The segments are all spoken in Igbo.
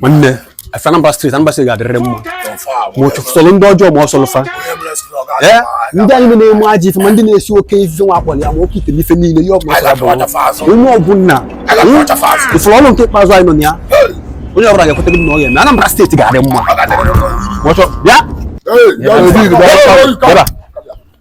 nwanne efe Anambra steeti Anambra steeti ga-adịrịrị mma ma ọ sọrọ ndị ọjọọ ma ọ sọrọ fa ee ndị anyị na-eme ajọ ife ma ndị na-esi oke ite nwa akpọrọ ya ma oke ite ife niile ihe ọbụla sara bụ onye ọgwụ nna ị fụrụ ọrụ nke ikpeazụ anyị nọ na ya onye ọbụla ga-ekweta gị na ọ ga-eme Anambra steeti ga-adị mma bịa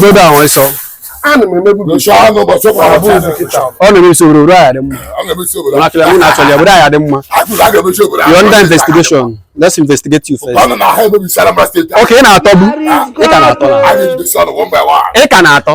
godo ahụ ịsọ ọ na-emebisi obodo obodo ahụ dị mma nakịla mụ na-achọ ya obodo ahụ dị mma you under investigation let's investigate you first okay ị na-atọ bụ ị ka na-atọ na ị ka na-atọ